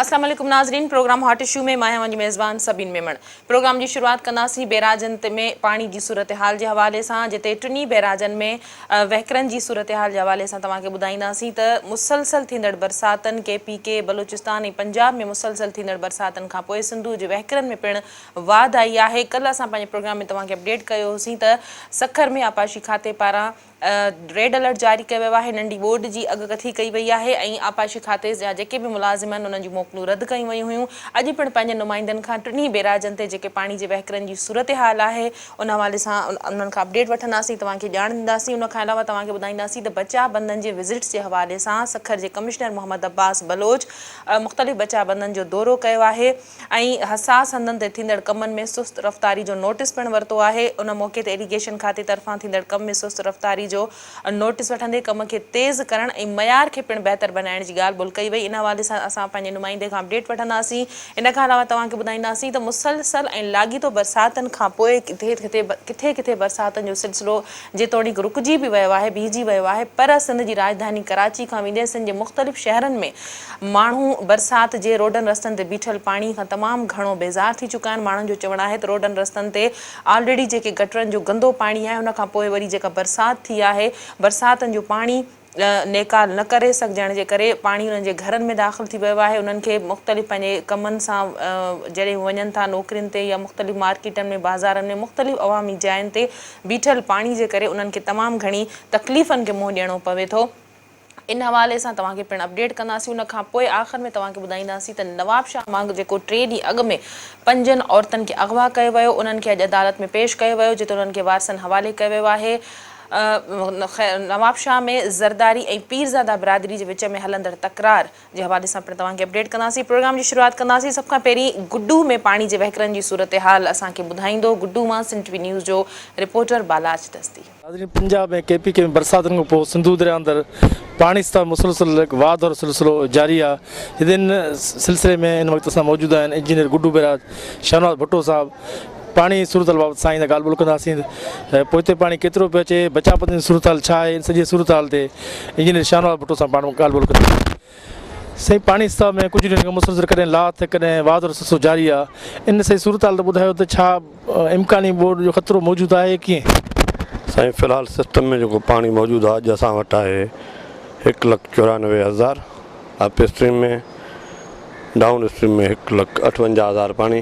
السلام عليڪم ناظرين پروگرام هاٽ اشو ۾ مان اوهان جي ميزبان سبين ميمڻ پروگرام جي شروعات ڪنداسين بيراجن ۾ پاڻي جي صورتحال جي حوالي سان جتي ٽنهي بيراجن ۾ وهڪرن جي صورتحال جي حوالي سان توهان کي ٻڌائينداسين ته مسلسل ٿيندڙ برساتن K P K Balochistan ۽ Punjab ۾ مسلسل ٿيندڙ برساتن کانپوء سنڌو جي وهڪرن ۾ پڻ واڌ آئي آهي ڪلهه اسان پنهنجي پروگرام ۾ توهان کي اپڊيٽ ڪيو هوسين ته سکر ۾ آبپاشي کاتي پاران ريڊ الرٽ جاري ڪيو ويو آهي ننڍي ٻوڏ جي اڳ ڪٿي ڪئي وئي آهي ۽ آبپاشي کاتي جا جيڪي به ملازم آهن انهن جون موڪلون رد ڪيون ويون هيون اڄ پڻ پنهنجن نمائندن کان ٽنهي بيراجن تي جيڪي پاڻي جي وهڪرن جي صورتحال آهي ان حوالي سان انهن کان اپڊيٽ وٺنداسين توهان کي ڄاڻ ڏينداسين ان کان علاوه توهان کي ٻڌائينداسين ته بچاء بندن جي وزٽس جي حوالي سان سکر جي ڪمشنر محمد عباس بلوچ مختلف بچاء بندن جو دورو ڪيو آهي ۽ حساس هنڌن تي ٿيندڙ ڪمن ۾ سست رفتاري جو نوٽيس پڻ ورتو آهي ان موقعي تي ايريگيشن کاتي طرفان ٿيندڙ ڪم ۾ سست رفتاري جو نوٽيس وٺندي ڪم کي تيز ڪرڻ ۽ معيار کي پڻ بهتر بنائڻ جي ڳالهه ٻولهه ڪئي وئي ان حوالي سان اسان پنهنجي نمائندي کان اپڊيٽ وٺنداسين ان کان علاوه توهان کي ٻڌائينداسين ته مسلسل ۽ لاڳيتو برساتن کانپوء ڪٿي ڪٿي برساتن جو سلسلو جيتوڻيڪ رڪجي به ويو آهي، بيهجي ويو آهي پر سنڌ جي راڄڌاني ڪراچي کان ويندي سنڌ جي مختلف شهرن ۾ ماڻهو برسات جي روڊن رستن تي بيٺل پاڻي کان تمام گهڻو بيزار ٿي چڪا آهن، ماڻهن جو چوڻ آهي ته روڊن رستن تي آلريڊي جيڪي گٽرن جو گندو پاڻي آهي ان کان پوء وري جيڪا برسات ٿي آهي، برساتن جو پاڻي. نيڪال نه ڪري سگهجڻ جي ڪري پاڻي انهن جي گهرن ۾ داخل ٿي ويو آهي انهن کي مختلف پنهنجي ڪمن سان جڏهن هو وڃن ٿا نوڪرين تي يا مختلف مارڪيٽن ۾ بازارن ۾ مختلف عوامي جاين تي بيٺل پاڻي جي ڪري انهن کي تمام گهڻي تڪليفن کي منهن ڏيڻو پوي ٿو ان حوالي سان توهان کي پڻ اپڊيٽ ڪنداسين ان کان پوء آخر ۾ توهان کي ٻڌائينداسين ته نوابشاهه مان جيڪو ٽي ڏينهن اڳ ۾ پنجن عورتن کي اغوا ڪيو ويو انهن کي اڄ عدالت ۾ پيش ڪيو ويو جتي انهن کي وارثن حوالي ڪيو ويو آهي نوابشاهه ۾ زرداري ۽ پيرزاده برادري جي وچ ۾ هلندڙ تڪرار جي حوالي سان پڻ توهان کي اپڊيٽ ڪنداسين پروگرام جي شروعات ڪنداسين سڀ کان پهرين گڊو ۾ پاڻي جي وهڪرن جي صورتحال اسان کي ٻڌائيندو گڊو مان سنڌ ٽي وي نيوز جو رپورٽر بالاچ دستي. ناظرين پنجاب ۽ ڪي پي ڪي ۾ برساتن کان پوء سنڌو درياء اندر پاڻي سطح مسلسل واڌ وارو سلسلو جاري آهي جڏهن ان سلسلي ۾ ان وقت اسان موجود آهن انجنيئر گڊو بئراج شاهنواز ڀٽو صاحب پاڻي جي صورتحال بابت سائين سان ڳالهه ٻولهه ڪنداسين ته پوئتي پاڻي ڪيترو پيو اچي بچاء پوتين جي صورتحال ڇا آهي ان سڄي صورتحال تي انجنيئر شاهنواز ڀٽو سان پاڻ ڳالهه ٻولهه ڪنداسين سائين پاڻي سطح ۾ ڪجهه ڏينهن کان مسلسل ڪڏهن لاٿ ته ڪڏهن واڌ ۽ سسو جاري آهي ان سڄي صورتحال تي ٻڌايو ته ڇا امڪاني ٻوڏ جو خطرو موجود آهي يا ڪيئن؟ سائين في الحال سسٽم ۾ جيڪو پاڻي موجود آهي اڄ اسان وٽ آهي هڪ لک چورانوي هزار اپ اسٽريم ۾ ڊائون اسٽريم ۾ هڪ لک اٺونجاهه هزار پاڻي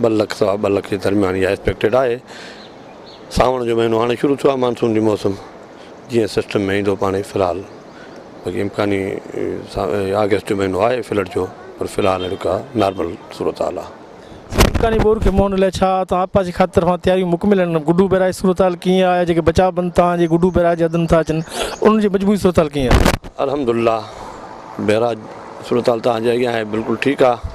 ٻه لک سوا ٻه لک جي درميان اها ايڪسپيڪٽيڊ آهي سانوڻ جو مهينو هاڻي شروع ٿيو آهي مانسون جي موسم جيئن سسٽم ۾ ايندو پاڻي في الحال باقي امڪاني آگسٽ جو مهينو آهي فلڊ جو پر في الحال اهڙي ڪا نارمل صورت حال آهي امڪاني ٻور کي منهن لاء ڇا تان آبپاس جي کاتي طرفان تياريون مڪمل آهن گڊو بيراج جي صورتحال ڪيئن آهي جيڪي بچاء بند تان جي گڊو بيراج جي حد ۾ ٿا اچن انهن جي مجموعي صورتحال ڪيئن آهي الحمدلله بيراج صورتحال تان جي اڳيان آهي بلڪل ٺيڪ آهي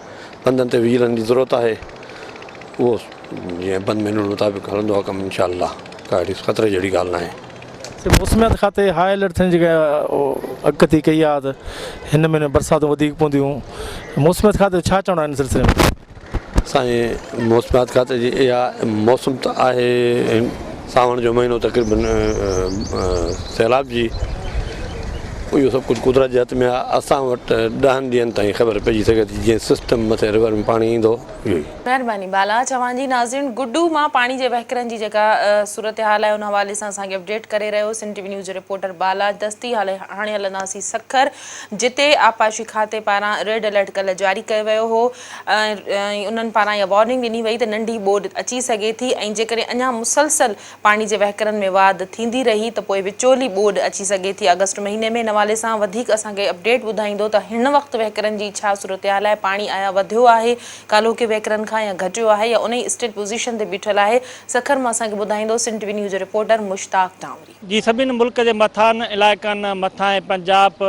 پنڌن تي ويلن جي ضرورت آهي اهو جيئن بند مينيول مطابق هلندو آهي ڪم انشاء الله ڪا اهڙي خطري جهڙي ڳالهه ناهي. سر موسميات کاتي هاء الرٽ ٿيڻ جي جيڪا اڳڪٿي ڪئي آهي ته هن مهيني ۾ برساتون وڌيڪ پونديون موسميات کاتي جو ڇا چوڻ آهي ان سلسلي ۾؟ سائين موسميات کاتي جي اها موسم ته آهي ساوڻ جو مهينو تقريباً سيلاب جي اهو سڀ ڪجهه قدرت جي هٿ ۾ آهي اسان وٽ ڏهن ڏينهن تائين خبر پئجي سگهي ٿي جيئن سسٽم مٿي رور ۾ پاڻي ايندو اهو ئي مهرباني بالا چوان جي ناظرين گڊو مان پاڻي جي وهڪرن جي جيڪا صورتحال آهي ان حوالي سان اسان کي اپڊيٽ ڪري رهيو سنڌ ٽي وي نيوز جو رپورٽر بالا دستي هاڻي هلنداسين سکر جتي آبپاشي کاتي پاران ريڊ الرٽ ڪلهه جاري ڪيو ويو هو ۽ انهن پاران اها وارننگ ڏني وئي ته ننڍي ٻوڏ اچي سگهي ٿي ۽ جيڪڏهن اڃا مسلسل پاڻي جي وهڪرن ۾ واڌ ٿيندي رهي ته پوء وچولي ٻوڏ اچي سگهي ٿي آگسٽ مهيني ۾ ان حوالي سان وڌيڪ اسان کي اپڊيٽ ٻڌائيندو ته هن وقت وهڪرن جي ڇا صورتحال آهي پاڻي آيا وڌيو آهي ڪالهوڪي وهڪرن کان يا گهٽيو آهي يا انهي اسٽيل پوزيشن تي بيٺل آهي سکر مان اسان کي ٻڌائيندو سنٽ وينيو جو رپورٽر مشتاق ٽانوري. جي سڀني ملڪ جي مٿانهن علائقن، مٿانهين پنجاب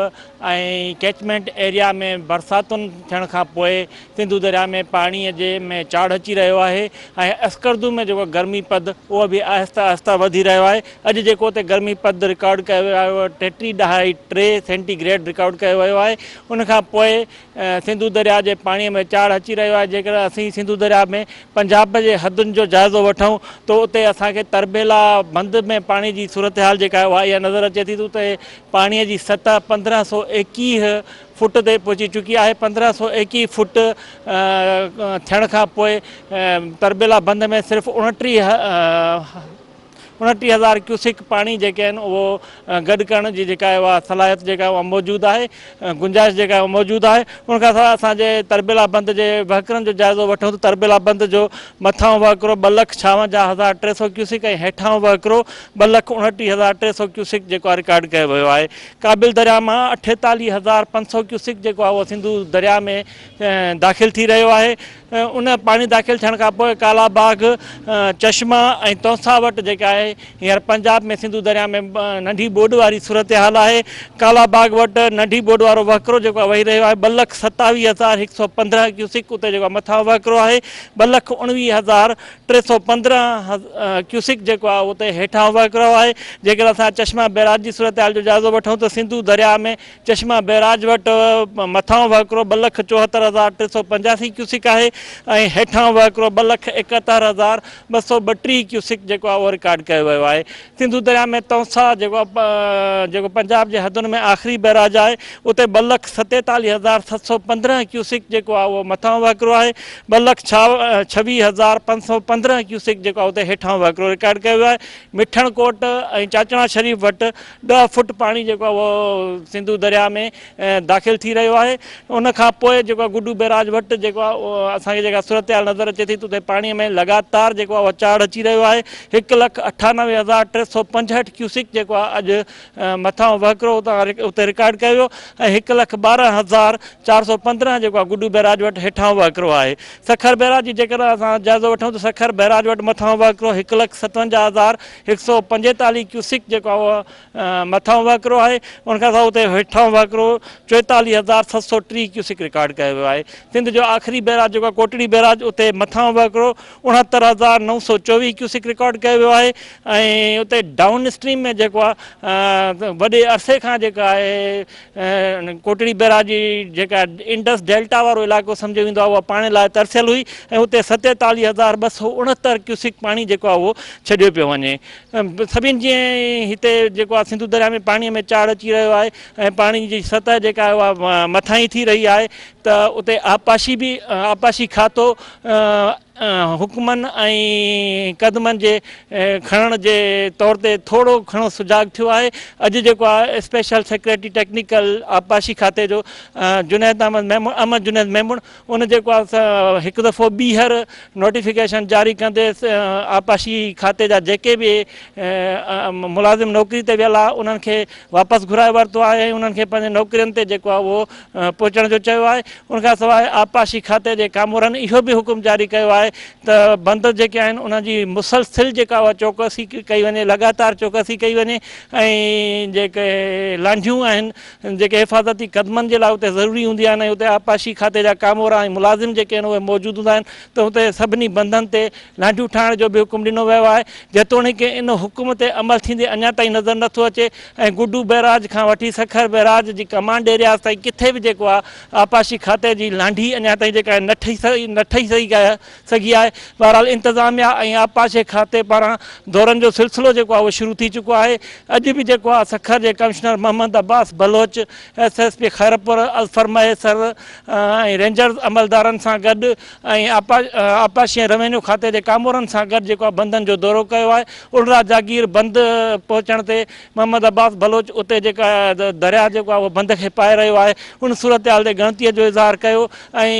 ۽ ڪيچمينٽ ايريا ۾ برساتن ٿيڻ کان پوء سنڌو درياء ۾ پاڻي جي ۾ چاڙهه اچي رهيو آهي ۽ اسڪردو ۾ جيڪو گرمي پد اهو به آهستي آهستي وڌي رهيو آهي اڄ جيڪو اتي گرمي پد رڪارڊ ڪيو ويو آهي اهو ٽيٽي ڏهائي ٽي سينٽي گريڊ رڪارڊ ڪيو ويو آهي ان کان پوء سنڌو درياء جي پاڻي ۾ چاڙهه اچي رهيو آهي جيڪڏهن اسين سنڌو درياء ۾ پنجاب جي حدن جو جائزو وٺون ته اتي اسان کي تربيلا بند ۾ پاڻي جي صورتحال جيڪا آهي اها اها نظر اچي ٿي ته اتي پاڻي جي سطح پندرهن سؤ ايڪيهه فٽ تي پهچي چڪي آهي پندرهن سؤ ايڪيهه فٽ ٿيڻ کان پوء تربيلا بند ۾ صرف اڻٽيهه انٽيهه هزار ڪيوسڪ پاڻي جيڪي آهن اهو گڏ ڪرڻ جي جيڪا آهي اها صلاحيت جيڪا آهي اها موجود آهي گنجائش جيڪا آهي اها موجود آهي ان کان سواء اسان جي تربيلا بند جي وهڪرن جو جائزو وٺون ته تربيلا بند جو مٿاهون وهڪرو ٻه لک ڇاونجاهه هزار ٽي سؤ ڪيوسڪ ۽ هيٺاهون وهڪرو ٻه لک انٽيهه هزار ٽي سؤ ڪيوسڪ جيڪو آهي رڪارڊ ڪيو ويو آهي ڪابل درياء مان اٺيتاليهه هزار پنج سؤ ڪيوسڪ جيڪو آهي اهو سنڌو درياء ۾ داخل ٿي رهيو آهي ان پاڻي داخل ٿيڻ کان پوء ڪالا باغ چشما ۽ تونسا وٽ جيڪا آهي هينئر پنجاب ۾ سنڌو دريا ۾ ننڍي ٻوڏ واري صورتحال آهي ڪالا باغ وٽ ننڍي ٻوڏ وارو وهڪرو جيڪو وهي رهيو آهي ٻه لک ستاويهه هزار هڪ سؤ پندرهن ڪيوسڪ اتي جيڪو مٿان وهڪرو آهي ٻه لک اڻويهه هزار ٽي سؤ پندرهن ڪيوسڪ جيڪو آهي اتي هيٺان وهڪرو آهي جيڪڏهن اسان چشما بيراج جي صورتحال جو جائزو وٺون ته سنڌو دريا ۾ چشما بئراج وٽ مٿانهون وهڪرو ٻه لک چوهتر هزار ٽي سؤ پنجاسي ڪيوسڪ آهي ۽ هيٺانهون وهڪرو ٻه لک ايڪهتر هزار ٻه سؤ ٻٽيهه ڪيوسڪ جيڪو آهي اهو رڪارڊ ڪيو ويو آهي سنڌو درياء ۾ تونسا جيڪو جيڪو پنجاب جي حدن ۾ آخري بئراج آهي اتي ٻه لک ستيتاليهه هزار ست سؤ پندرهن ڪيوسڪ جيڪو آهي اهو مٿانهون وهڪرو آهي ٻه لک ڇويهه هزار پنج سؤ پندرهن ڪيوسڪ جيڪو آهي اتي هيٺانهون وهڪرو رڪارڊ ڪيو ويو آهي مٺڻ ڪوٽ ۽ چاچڻا شريف وٽ ڏهه فوٽ پاڻي جيڪو آهي اهو سنڌو درياهه ۾ داخل ٿي رهيو آهي ان کان پوء جيڪو آهي گڊو بيراج وٽ جيڪو آهي اهو اسان کي جيڪا صورتحال نظر اچي ٿي ته اتي پاڻي ۾ لڳاتار جيڪو آهي اهو چاڙهه اچي رهيو آهي هڪ لک اٺانوي هزار ٽي سؤ پنجهٺ ڪيوسڪ جيڪو آهي اڄ مٿانهون وهڪرو اتي رڪارڊ ڪيو ويو ۽ هڪ لک ٻارهن هزار چار سؤ پندرهن جيڪو آهي گڊو بيراج وٽ هيٺاهون وهڪرو آهي سکر بيراج جي جيڪڏهن اسان جائزو وٺون ته سکر بيراج وٽ مٿانهون وهڪرو هڪ لک ستونجاهه هزار هڪ سؤ پنجيتاليهه ڪيوسڪ جيڪو آهي اهو مٿانهون وهڪرو آهي ان کان سواء اتي هيٺانهون وهڪرو چوئيتاليهه هزار ست سؤ ٽيهه ڪيوسڪ رڪارڊ ڪيو ويو آهي سنڌ جو آخري بئراج جيڪو آهي ڪوٽڙي بئراج اتي مٿانهون وهڪرو اڻهتر هزار نو سؤ چوويهه ڪيوسڪ رڪارڊ ڪيو ويو آهي ۽ اتي ڊائون اسٽريم ۾ جيڪو آهي وڏي عرصي کان جيڪا آهي ان ڪوٽڙي بئراج جي جيڪا انڊس ڊيلٽا وارو علائقو سمجهيو ويندو آهي اها پاڻي لاء ترسيل هئي ۽ اتي ستيتاليهه هزار ٻه سؤ اڻهتر ڪيوسڪ پاڻي جيڪو آهي اهو ڇڏيو پيو وڃي سڀني جي هتي جيڪو آهي سنڌو درياء ۾ پاڻي ۾ چاڙهه اچي رهيو آهي ۽ پاڻي جي سطح جيڪا آهي اها مٿاهين ٿي رهي آهي ته اتي آبپاشي به آبپاشي کاتو حڪمن ۽ قدمن جي کڻڻ جي طور تي ٿورو گهڻو سجاڳ ٿيو آهي اڄ جيڪو آهي اسپيشل سيڪريٽري ٽيڪنيڪل آبپاشي کاتي جو جنيد احمد ميمڻ احمد جنيد ميمڻ ان جيڪو آهي هڪ دفعو ٻيهر نوٽيفڪيشن جاري ڪندي آبپاشي کاتي جا جيڪي به ملازم نوڪري تي ويل آهي انهن کي واپس گهرائي ورتو آهي انهن کي پنهنجي نوڪرين تي جيڪو آهي اهو پهچڻ جو چيو آهي ان کان سواء آبپاشي کاتي جي ڪامورن اهو به حڪم جاري ڪيو آهي ته بند جيڪي آهن انهن جي مسلسل جيڪا اها چوڪسي ڪئي وڃي لڳاتار چوڪسي ڪئي وڃي ۽ جيڪي لانڍيون آهن جيڪي حفاظتي قدمن جي لاء اتي ضروري هوندي آهن اتي آبپاشي کاتي جا ڪامورا ۽ ملازم جيڪي آهن اهي موجود هوندا آهن ته اتي سڀني بندن تي لانڍيون ٺاهڻ جو به حڪم ڏنو ويو آهي جيتوڻيڪ ان حڪم تي عمل ٿيندي اڃا تائين نظر نٿو اچي ۽ گڊو بئراج کان وٺي سکر بئراج جي ڪمانڊ ايرياز تائين ڪٿي به جيڪو آهي آبپاشي کاتي جي لانڍي اڃا تائين جيڪا نه ٺهي سگهي نه ٺهي سگهي آهي سگهي آهي بهرحال انتظاميا ۽ آبپاشي کاتي پاران دورن جو سلسلو جيڪو آهي اهو شروع ٿي چڪو آهي اڄ به جيڪو آهي سکر جي commissioner Muhammad Abbas Baloch S S P Khairpur الفرميسر ۽ رينجرز عملدارن سان گڏ ۽ آبپاشي ۽ روينيو کاتي جي ڪامورن سان گڏ جيڪو آهي بندن جو دورو ڪيو آهي الرا جاگير بند پهچڻ تي محمد عباس بلوچ اتي جيڪا درياهه جيڪو آهي اهو بند کي پائي رهيو آهي ان صورتحال تي ڳڻتي جو اظهار ڪيو ۽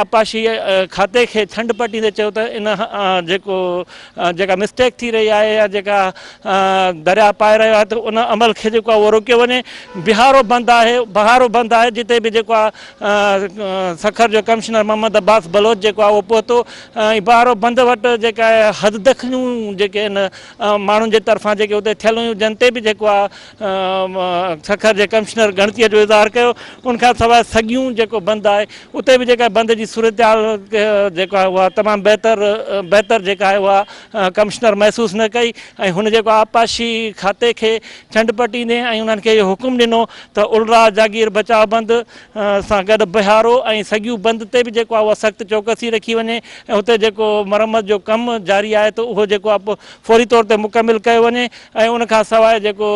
آبپاشي کاتي کي ڇنڊ پٽيندي چيو ته ان جيڪو جيڪا مسٽيڪ ٿي رهي آهي يا جيڪا درياهه پائي رهيو آهي ته ان عمل کي جيڪو آهي اهو روڪيو وڃي بهارو بند آهي بهارو بند آهي جتي به جيڪو آهي سکر جو ڪمشنر محمد عباس بلوچ جيڪو آهي اهو پهتو ۽ بهارو بند وٽ جيڪا آهي حد دخليون جيڪي ان ماڻهن جي طرفان جيڪي اتي ٿيل هيون جن تي به جيڪو آهي سکر جي ڪمشنر ڳڻتي جو اظهار ڪيو ان کان سواء سگيون جيڪو بند آهي اتي به جيڪا بند جي صورتحال جيڪو آهي اها تمام بهتر بهتر جيڪا آهي اها ڪمشنر محسوس نه ڪئي ۽ هن جيڪو آبپاشي کاتي کي ڇنڊ پٽيندي ۽ انهن کي اهو حڪم ڏنو ته الراء جاگير بچاء بند سان گڏ بهارو ۽ سڳيو بند تي به جيڪو آهي اها سخت چوڪسي رکي وڃي ۽ اتي جيڪو مرمت جو ڪم جاري آهي ته اهو جيڪو آهي فوري طور تي مڪمل ڪيو وڃي ۽ ان کان سواء جيڪو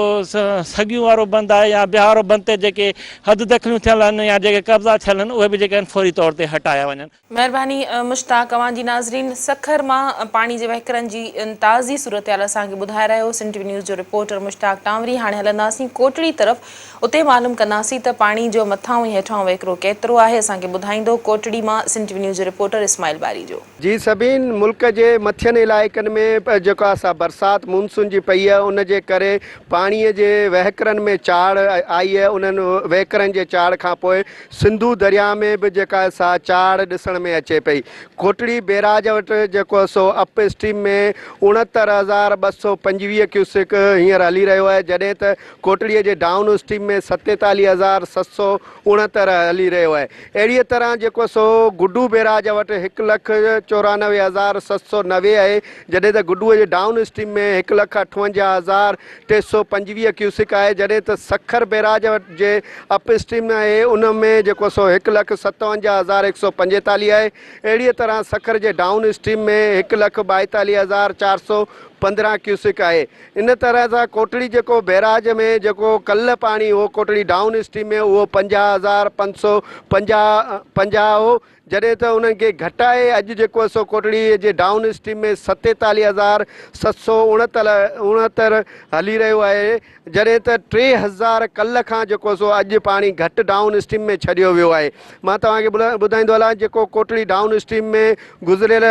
سڳيون وارو بند آهي يا بهارو بند تي جيڪي حد دخليون ٿيل آهن يا جيڪي قبضا ٿيل آهن اهي به جيڪي آهن فوري طور تي هٽايا وڃن. مهرباني مشتاق اوهان جي ناظرين سکر مان پاڻي جي وهڪرن جي تازي صورتحال اسان کي ٻڌائي رهيو سنڌ ٽي وي نيوز جو رپورٽر مشتاق ٽانوري هاڻي هلنداسين ڪوٽڙي طرف اتي معلوم ڪنداسين ته پاڻي جو مٿاهون ۽ هيٺاهون وهڪرو ڪيترو آهي اسان کي ٻڌائيندو ڪوٽڙي مان سنڌ ٽي وي نيوز جو رپورٽر اسماعيل باري جو جي سڀني ملڪ جي مٿين علائقن ۾ جيڪا سا برسات مونسون جي پئي ان جي ڪري پاڻي جي وهڪرن ۾ چاڙهه آئي انهن وهڪرن جي چاڙهه کانپوء سنڌو درياء ۾ به جيڪا سا چاڙهه ڏسڻ ۾ اچي پئي. کوٽڙي بيراج وٽ جيڪو سو اپ اسٽريم ۾ اڻهتر هزار ٻه سؤ پنجويهه ڪيوسڪ هينئر هلي رهيو آهي جڏهن ته کوٽڙي جي ڊائون اسٽريم ۾ ستيتاليهه هزار ست سؤ اڻهتر هلي رهيو آهي اهڙيء طرح جيڪو سو گڊو بيراج وٽ هڪ لک چورانوي هزار ست سؤ نوي آهي جڏهن ته گڊوء جي ڊائون اسٽريم ۾ هڪ لک اٺونجاهه هزار ٽي سؤ پنجويهه ڪيوسڪ آهي جڏهن ته سکر بيراج جي اپ اسٽريم آهي ان ۾ جيڪو سو هڪ لک ستاونجاهه هزار هڪ سؤ پنجيتاليهه آهي اهڙيء طرح سکر جي ڊائون اسٽريم ۾ هڪ لک ٻائيتاليهه هزار چار سؤ پندرهن ڪيوسڪ آهي ان طرح سان ڪوٽڙي جيڪو بيراج ۾ جيڪو ڪلهه پاڻي هو ڪوٽڙي ڊائون اسٽريم ۾ اهو پنجاهه هزار پنج سؤ پنجاهه پنجاهه هو جڏهن ته انهن کي گهٽائي اڄ جيڪو اسو ڪوٽڙي جي ڊائون اسٽريم ۾ ستيتاليهه هزار ست سؤ اڻهتر هلي رهيو آهي جڏهن ته ٽي هزار ڪلهه کان جيڪو اسو اڄ پاڻي گهٽ ڊائون اسٽريم ۾ ڇڏيو ويو آهي مان توهان کي ٻڌائيندو هلان جيڪو ڪوٽڙي ڊائون اسٽريم ۾ گذريل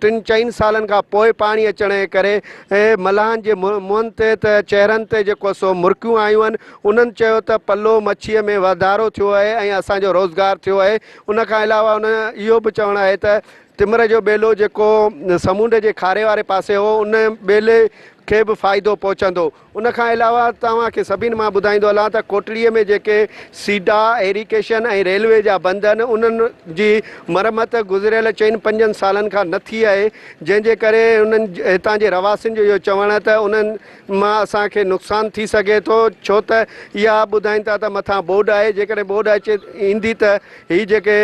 ٽن چئن سالن کان پوء پاڻي اچڻ جي ڪري ملاحن جي منهن تي ته چهرن تي جيڪو اسو مرڪيون آيون آهن انهن چيو ته پلو مڇيء ۾ واڌارو ٿيو آهي ۽ اسان جو روزگار ٿيو آهي ان کان علاوه ان جو اهو به چوڻ آهي ته تمر جو ٻيلو جيڪو سمونڊ جي کاري واري پاسي هو ان ٻيلي کي به فائدو پهچندو. ان کان علاوه توهان کي سڀني مان ٻڌائيندو هلان ته ڪوٽڙي ۾ جيڪي سيڊا، ايريڪيشن ۽ ريلوي جا بند آهن انهن جي مرمت گذريل چئن پنجن سالن کان نه ٿي آهي جنهن جي ڪري انهن هتان جي رهواسين جو اهو چوڻ ته انهن مان اسان کي نقصان ٿي سگهي ٿو ڇو ته اها ٻڌائين ٿا ته مٿان ٻوڏ آهي جيڪڏهن ٻوڏ اچي ايندي ته هي جيڪي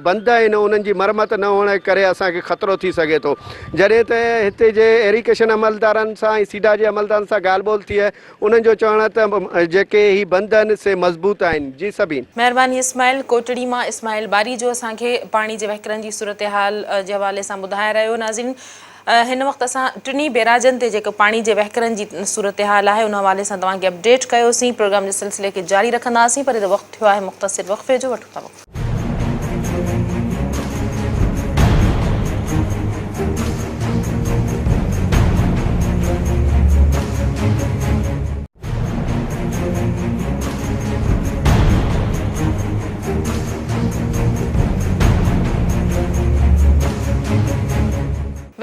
بند آهن انهن جي مرمت نه هئڻ ڪري اسان کي خطرو ٿي سگهي ٿو جڏهن ته هتي جي ايريڪيشن عملدارن سان ۽ سيڊا جي عملدارن سان ڳالهه ٻولهه ٿي انهن جو چوڻ آهي ته جيڪي هي بند آهن سي مضبوط آهن جي سڀين مهرباني اسماعيل ڪوٽڙي مان اسماعيل ٻاري جو اسان کي پاڻي جي وهڪرن جي صورتحال جي حوالي سان ٻڌائي رهيو ناظرين هن وقت اسان ٽنهي بيراجن تي جيڪو پاڻي جي وهڪرن جي صورتحال آهي ان حوالي سان توهان کي اپڊيٽ ڪيوسين پروگرام جي سلسلي کي جاري رکنداسين پر هينئر وقت ٿيو آهي مختصر وقفي جو وٺون ٿا وقفو.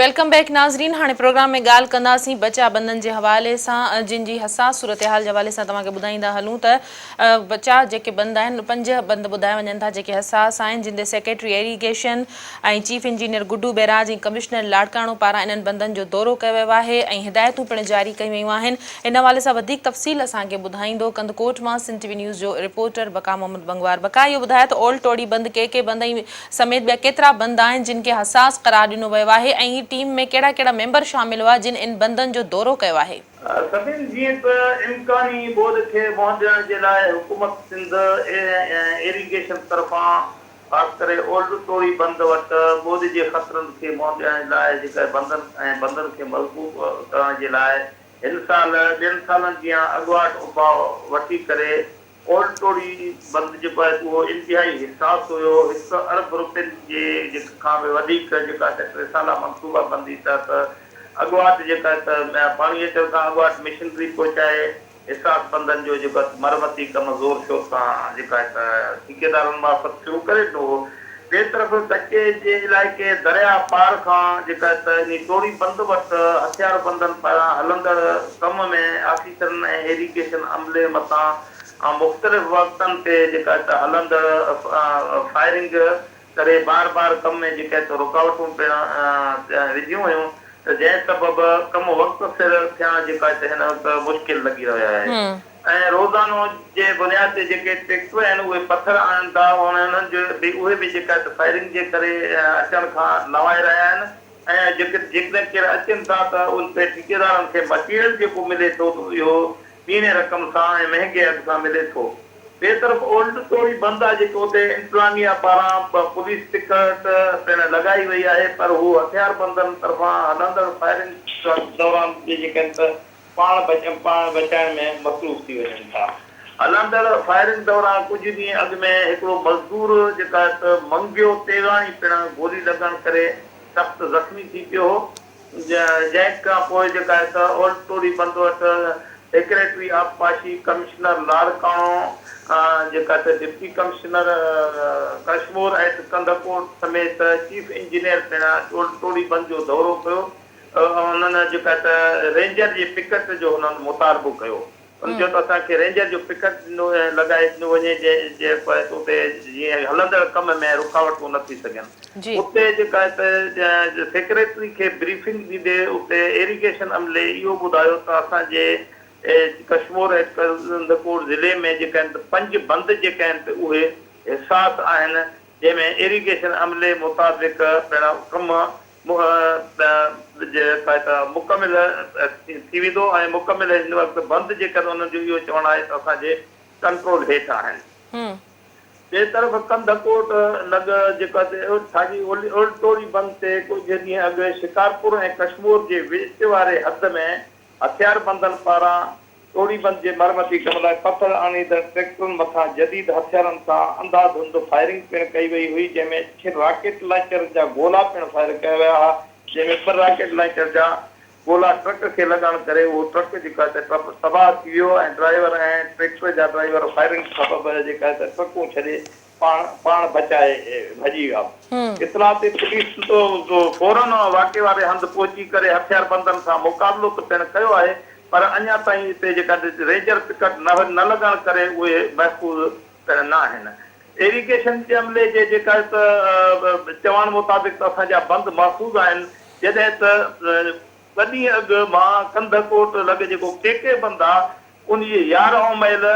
ويلڪم بيڪ ناظرين هاڻي پروگرام ۾ ڳالهه ڪنداسين بچا بندن جي حوالي سان جن جي حساس صورتحال جي حوالي سان توهان کي ٻڌائيندا هلون ته بچا جيڪي بند آهن پنج بند ٻڌايا وڃن ٿا جيڪي حساس آهن جن تي secretary irrigation ۽ chief engineer Guddu barrage ۽ commissioner Larkana پاران انهن بندن جو دورو ڪيو ويو آهي ۽ هدايتون پڻ جاري ڪيون ويون آهن ان حوالي سان وڌيڪ تفصيل اسان کي ٻڌائيندو ڪنڌڪوٽ مان سنڌ ٽي وي نيوز جو رپورٽر بقا محمد بنگوار بقا اهو ٻڌاء ته اولڊ ٽوڙي بند ڪي ڪي بند ۽ سميت ٻيا ڪيترا بند آهن جن کي حساس قرار ڏنو ويو آهي ۽ ٽيم ۾ ڪهڙا ڪهڙا ميمبر شامل هئا جن ان بندن جو دورو ڪيو آهي. سندين جيئن ته امڪاني ٻوڏ کي منهن ڏيڻ جي لاء حڪومت سنڌ ۽ ايريگيشن طرفان خاص ڪري اولڊ ٽوري بند وٽ ٻوڏ جي خطرن کي منهن ڏيڻ لاء جيڪر بندن ۽ بندن کي مضبوط ڪرڻ جي لاء هن سال ٻين سالن جيان اڳواٽ اپاء وٺي ڪري اولڊ ٽوري بند جيڪو آهي اهو انتهائي حساس هيو هڪ ارب روپين جي جيڪ کان به وڌيڪ جيڪا اسين ٽي سالا منصوبا بندي تحت اڳواٽ جيڪا هڪ پاڻي اچڻ کان اڳواٽ مشنري پهچائي حساس پنڌن جو جيڪو مرمتي ڪم زور شور سان جيڪا هڪ ٺيڪيدارن معرفت شروع ڪري ڏنو هو، ٻئي طرف ڪچي جي علائقي درياء پار کان جيڪا هڪ انهي ٽوڙي بند وٽ هٿياربندن پاران هلندڙ ڪم ۾ آفيسرن ۽ ايريگيشن عملي مٿان مختلف وقتن تي جيڪا هڪ هلندڙ فائرنگ ڪري بار بار ڪم ۾ جيڪي ته رڪاوٽون پڻ وڌيون هيون ته جنهن سبب ڪم وقت سر ٿيڻ جي ڪا ته هن وقت مشڪل لڳي رهي آهي ۽ روزانو جي بنياد تي جيڪي ٽيڪٽر آهن اهي پٿر آڻن ٿا انهن جو به اهي به جيڪا ته فائرنگ جي ڪري اچڻ کان لنوائي رهيا آهن ۽ جيڪڏهن ڪير اچن ٿا ته ان تي ٺيڪيدارن کي مٽيريل جيڪو ملي ٿو ته اهو ٻيڻي رقم سان ۽ مهنگي اگهه سان ملي ٿو. ٻئي طرف اولڊ سوري بند آهي جيڪي اتي انتظاميا پاران پوليس پڪٽ پڻ لڳائي وئي آهي پر هو هٿياربندن طرفان هلندڙ فائرنگ دوران جيجي ڪن ته پاڻ پاڻ بچائڻ ۾ مصروف ٿي وڃن ٿا. هلندڙ فائرنگ دوران ڪجهه ڏينهن اڳ ۾ هڪڙو مزدور جيڪا ته منگيو تيغاڻي پڻ گولي لڳڻ ڪري سخت زخمي ٿي پيو هو. جنهن کان پوء جيڪا هڪ اولڊ ٽوري بند وٽ سيڪريٽري آبپاشي ڪمشنر لاڙڪاڻو جيڪا ته deputy commissioner Kashmore at Kandhkot سميت چيف انجنيئر پڻ اولڊ ٽوري بند جو دورو ڪيو ۽ انهن جيڪا ته رينجر جي پڪٽ جو هنن مطالبو ڪيو. هن چيو ته اسان کي رينجر جو پڪٽ ڏنو لڳائي ڏنو وڃي جنهن پوء اتي جيئن هلندڙ ڪم ۾ رڪاوٽون نه ٿي سگهن اتي جيڪا سيڪريٽري کي بريفنگ ڏيندي اتي ايريگيشن عملي اهو ٻڌايو ته اسان جي ڪشمور ۽ ڪنڌڪوٽ ضلعي ۾ جيڪا آهن ته پنج بند جيڪا آهن ته اهي حساس آهن جنهن ۾ ايريگيشن عملي مطابق پڻ ڪم منهن جي سهائتا مڪمل ٿي ويندو ۽ مڪمل هن وقت بند جيڪر انهن جو اهو چوڻ آهي ته اسان جي ڪنٽرول هيٺ آهن. ٻئي طرف ڪنڌڪوٽ لڳ جيڪا ساڳي اولڊ ٽوري بند تي ڪجهه ڏينهن اڳ شڪارپور ۽ ڪشمور جي وچ واري حد ۾ هٿياربندن پاران ٽوڙيبند جي مرمتي ڪم لاء پٿر آڻيندڙ ٽريڪٽرن مٿان جديد هٿيارن سان انڌا ڌنڌ فائرنگ پڻ ڪئي وئي هئي جنهن ۾ ڇهه راڪيٽ لانچرن جا گولا پڻ فائر ڪيا ويا ها جنهن ۾ ٻه راڪيٽ لانچر جا گولا ٽرڪ کي لڳڻ ڪري اهو ٽرڪ جيڪو آهي ته تباهه ٿي ويو ۽ ڊرائيور ۽ ٽريڪٽر جا ڊرائيور فائرنگ سبب جيڪا آهي ته ٽرڪون ڇڏي پاڻ پاڻ بچائي ڀڄي ويا. اطلاعاتي پوليس فورا واقعي واري هنڌ پهچي ڪري هٿياربندن سان مقابلو ته پڻ ڪيو آهي پر اڃا تائين اتي جيڪا رينجر پڪٽ نه لڳڻ ڪري اهي محفوظ پڻ نه آهن. ايريگيشن جي عملي جي جيڪا ته چوڻ مطابق ته اسان جا بند محفوظ آهن جڏهن ته ٻه ڏينهن اڳ مان ڪنڌ ڪوٽ لڳ جيڪو ڪي ڪي بند آهي انهي يارهن ميل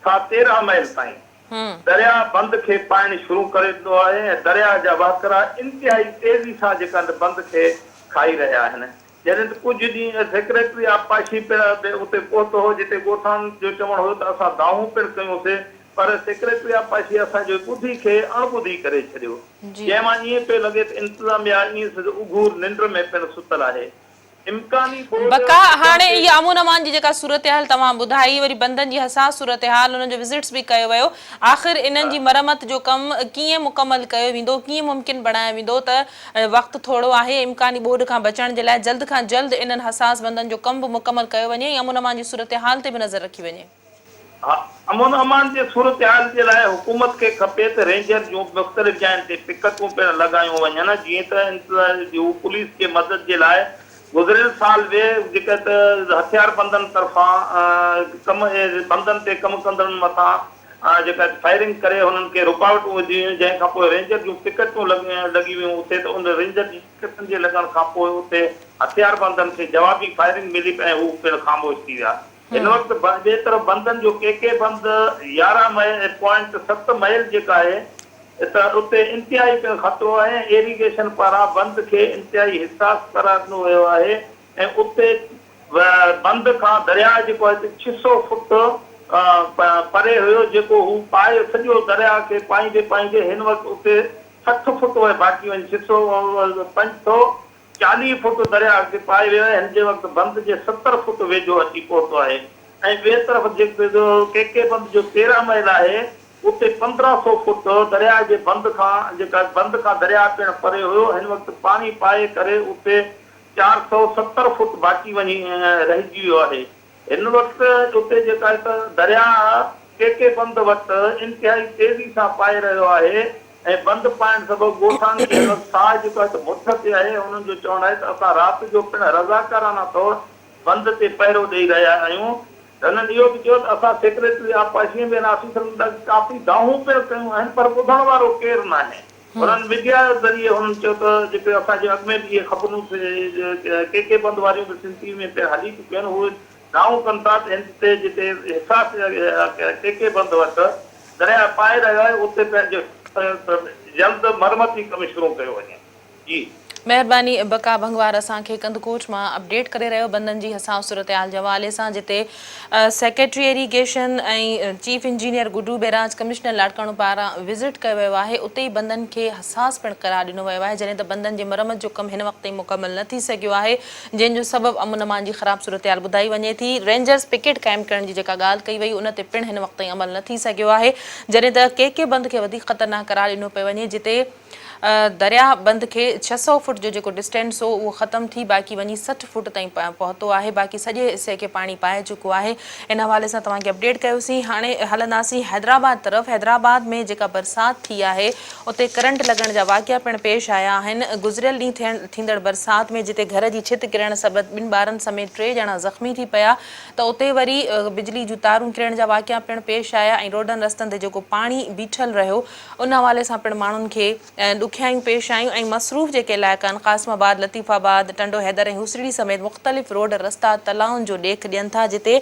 کان تيرهن ميل تائين هو. درياء بند کي پائڻ شروع ڪري ڏنو آهي ۽ درياء جا وهڪرا انتهائي تيزي سان جيڪا هنڌ بند کي کائي رهيا آهن. جڏهن ته ڪجهه ڏينهن اڳ سيڪريٽري آبپاشي پڻ به اتي پهتو هو جتي ڳوٺاڻن جو چوڻ هيو ته اسان دانهون پڻ ڪيون سي پر سيڪريٽري آبپاشي اسان جي ٻڌي کي اڻ ٻڌي ڪري ڇڏيو جنهن مان ائين پئي لڳي ته انتظاميا ائين سج اگهور ننڊ ۾ پڻ ستل آهي. امڪاني ٻوڏ بقا ٽڪڻ هاڻي تي اها امن امان جي جيڪا صورتحال توهان ٻڌائي وري بندن جي حساس صورتحال انهن جو وزٽس به ڪيو ويو آخر انهن جي مرمت جو ڪم ڪيئن مڪمل ڪيو ويندو ڪيئن ممڪن بڻايو ويندو ته وقت ٿورو آهي امڪاني ٻوڏ کان بچڻ جي لاء جلد کان جلد انهن حساس بندن جو ڪم به مڪمل ڪيو وڃي ۽ امن امان جي صورتحال تي به نظر رکي وڃي. امن امان جي صورتحال جي لاء حڪومت کي کپي ته رينجر جون مختلف جاين تي پڪٽون پڻ لڳايون وڃن جيئن ته انتظاميه جي هو پوليس جي مدد جي لاء گذريل سال به جيڪي ته هٿياربندن طرفان ڪم بندن تي ڪم ڪندڙن مٿان جيڪي ته فائرنگ ڪري هنن کي رڪاوٽون وڌيون هيون جنهن کان پوء رينجر جون پڪٽون لڳي ويون اتي ته ان رينجر جي پڪٽن جي لڳڻ کان پوء اتي هٿياربندن کي جوابي فائرنگ ملي ۽ هو پڻ خاموش ٿي ويا هن وقت ٻئي طرف بندن جو ڪي ڪي بند يارهن مئي پوائنٽ ست مئل جيڪا آهي ته اتي انتهائي خطرو آهي ۽ ايريگيشن پاران بند کي انتهائي حساس قرار ڏنو ويو آهي ۽ اتي بند کان درياء جيڪو آهي ته ڇهه سؤ فوٽ پري هيو جيڪو هو پائي سڄو درياء کي پائيندي پائيندي هن وقت اتي سٺ فوٽ وئي باقي وڃي ڇهه سؤ پنج سؤ چاليهه فوٽ درياهه اڳتي پائي ويو آهي، هن جي وقت بند جي ستر فوٽ ويجهو اچي پهتو آهي ۽ ٻئي طرف جيڪي جو ڪي ڪي بند جو تيرهن ميل آهي اتي پندرهن سئو فوٽ درياهه جي بند کان جيڪا بند کان درياهه پڻ پري هيو هن وقت پاڻي پائي ڪري اتي چار سئو ستر فوٽ باقي وڃي رهجي ويو آهي. هن وقت اتي جيڪا هڪ درياء ڪي ڪي بند وٽ انتهائي تيزي سان پائي رهيو آهي ۽ بند پائڻ سبب ڳوٺاڻن کي هن وقت ساهه جيڪو آهي ته مٺ تي آهي ۽ انهن جو چوڻ آهي ته اسان رات جو پڻ رضاڪارانه طور بند تي پهرو ڏئي رهيا آهيون هنن اهو به چيو ته اسان سيڪريٽري آبپاشي ۽ ٻين آفيسرن ڏانهن ڪافي دانهون پڻ ڪيون آهن پر ٻڌڻ وارو ڪير ناهي. انهن ميڊيا ذريعي هنن چيو ته جيڪي اسان کي اڳ ۾ به اهي خبرون ٿي ڪي ڪي بند واريون به سنڌ ٽي وي ۾ پڻ هلي چڪيون آهن اهي دانهون ڪن ٿا ته هند تي جتي حساس ڪي ڪي بند وٽ درياهه پائي رهيو آهي اتي پنهنجو جلد مرمتي ڪم شروع ڪيو وڃي جي مهرباني بقا ڀنگوار اسان کي ڪنڌڪوٽ مان اپڊيٽ ڪري رهيو بندن جي حساس صورتحال جي حوالي سان جتي secretary irrigation ۽ chief engineer Guddu barrage commissioner Larkana پاران وزٽ ڪيو ويو آهي اتي ئي بندن کي حساس پڻ قرار ڏنو ويو آهي جڏهن ته بندن جي مرمت جو ڪم هن وقت تائين مڪمل نه ٿي سگهيو آهي جنهن جو سبب امن امان جي خراب صورتحال ٻڌائي وڃي ٿي رينجرز پڪيٽ قائم ڪرڻ جي جيڪا ڳالهه ڪئي وئي ان تي پڻ هن وقت تائين عمل نه ٿي سگهيو آهي جڏهن ته ڪي ڪي بند کي وڌيڪ خطرناڪ قرار ڏنو پيو وڃي جتي درياهه بند کي ڇهه سؤ فوٽ جو جيڪو ڊسٽينس هو اهو ختم ٿي باقي وڃي سٺ فوٽ تائين پهتو آهي باقي سڄي حصي کي پاڻي پائي چڪو آهي ان حوالي سان توهان کي اپڊيٽ ڪيوسين هاڻي هلنداسين حيدرآباد طرف حيدرآباد ۾ جيڪا برسات ٿي آهي اتي ڪرنٽ لڳڻ جا واقعا پڻ پيش آيا آهن گذريل ڏينهن ٿيندڙ برسات ۾ جتي گهر جي ڇت ڪرڻ سبب ٻن ٻارن سميت ٽي ڄڻا زخمي ٿي پيا ته اتي وري بجلي جون تارون ڪرڻ جا واقعا پڻ پيش آيا ۽ روڊن رستن تي جيڪو پاڻي بيٺل رهيو ان حوالي سان پڻ ماڻهن کي ڏکيائيون پيش آيون ۽ مصروف جيڪي علائقا آهن قاسم آباد، لطيف آباد، ٽنڊو حيدر ۽ هوسڙي سميت مختلف روڊ رستا تلائن جو ڏيک ڏين ٿا جتي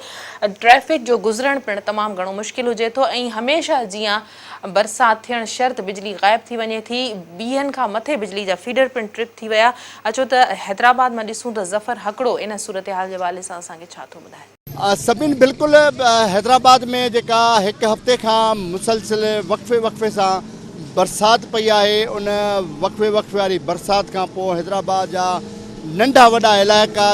ٽريفڪ جو گذرڻ پڻ تمام گهڻو مشڪل هجي ٿو ۽ هميشه جيان برسات ٿيڻ شرط بجلي غائب ٿي وڃي ٿي ويهن کان مٿي بجلي جا فيڊر پڻ ٽرپ ٿي ويا اچو ته حيدرآباد مان ڏسون ته ظفر هڪڙو ان صورتحال جي حوالي سان اسان کي ڇا ٿو ٻڌائي. سبين بلڪل حيدرآباد ۾ جيڪا هڪ هفتي کان مسلسل وقفي وقفي سان برسات پئي آهي ان وقفي وقفي واري برسات کان پوء حيدرآباد جا ننڍا وڏا علائقا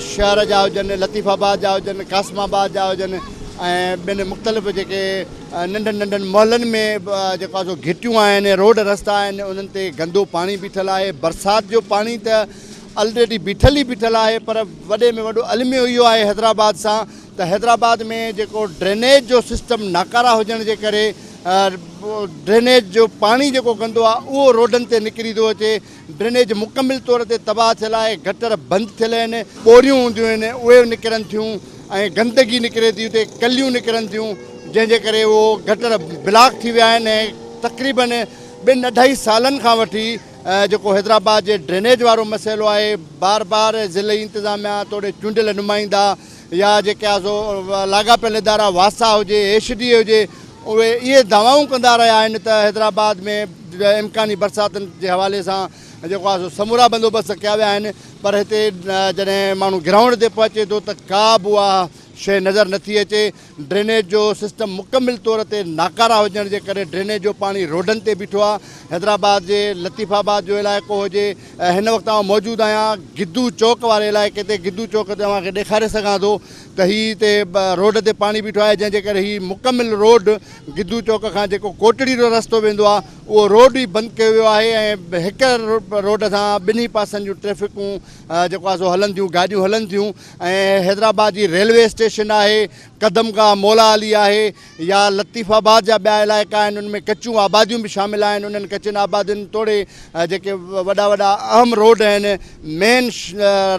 شهر جا هجن لطيف آباد جا هجن قاسم آباد جا هجن ۽ ٻين مختلف جيڪي ننڍن ننڍن محلن ۾ جيڪو آهي سو گهٽيون آهن روڊ رستا آهن انهن تي گندو پاڻي بيٺل آهي برسات جو پاڻي ته الريڊي بيٺل ئي بيٺل آهي پر وڏي ۾ وڏو الميو اهو آهي حيدرآباد سان ته حيدرآباد ۾ جيڪو ڊرينيج جو سسٽم ناڪارا هجڻ جي ڪري ڊرينيج جو پاڻي جيڪو گندو آهي اهو روڊن تي نڪري ٿو اچي ڊرينيج مڪمل طور تي تباهه ٿيل آهي گٽر بند ٿيل آهن ٻوريون هونديون آهن اهي نڪرن ٿيون ۽ گندگي نڪري ٿي اتي ڪليون نڪرن ٿيون جنهن جي ڪري اهو گٽر بلاڪ ٿي ويا آهن ۽ تقريبن ٻن اڍائي سالن کان وٺي جيڪو حيدرآباد جي ڊرينيج وارو مسئلو آهي بار بار ضلعي انتظاميا توڙي چونڊيل نمائندا يا جيڪي آهي سو لاڳاپيل ادارا واسا هجي ايش ڊي اي هجي اهي اهي دعوائون ڪندا رهيا آهن ته حيدرآباد ۾ امڪاني برساتن جي حوالي سان جيڪو آهي سو سمورا بندوبست ڪيا ويا آهن پر هتي جڏهن ماڻهو گرائونڊ تي پهچي ٿو ته ڪا به اها شيء نظر نٿي اچي ڊرينيج جو سسٽم مڪمل طور تي ناڪاره هجڻ جي ڪري ڊرينيج جو پاڻي روڊن تي بيٺو آهي حيدرآباد جي لطيف آباد جو علائقو هجي هن وقت آئون موجود آهيان گدو چوڪ واري علائقي تي گدو چوڪ تي اوهان کي ڏيکاري سگهان ٿو ته هي هتي روڊ تي پاڻي بيٺو آهي جنهن جي ڪري هي مڪمل روڊ گدو چوڪ کان جيڪو ڪوٽڙي جو رستو ويندو آهي اهو روڊ ئي بند ڪيو ويو آهي ۽ هڪ روڊ سان ٻنهي پاسن جون ٽريفڪون جيڪو آهي سو هلن ٿيون گاڏيون هلن ٿيون ۽ حيدرآباد جي ريلوي اسٽيشن آهي، قدم گاهه مولا علي آهي يا لطيف آباد جا ٻيا علائقا آهن ان ۾ ڪچيون آباديون به شامل آهن انهن ڪچين آبادين توڙي جيڪي وڏا وڏا اهم روڊ آهن مين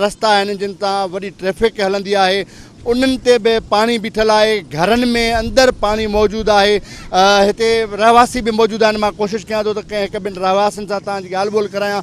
رستا آهن جن تان وڏي ٽريفڪ هلندي آهي انهن تي به پاڻي بيٺل آهي گهرن ۾ اندر پاڻي موجود آهي هتي رهواسي به موجود آهن مان ڪوشش ڪيان ٿو ته ڪنهن هڪ ٻن رهواسين سان توهان جي ڳالهه ٻولهه ڪرايان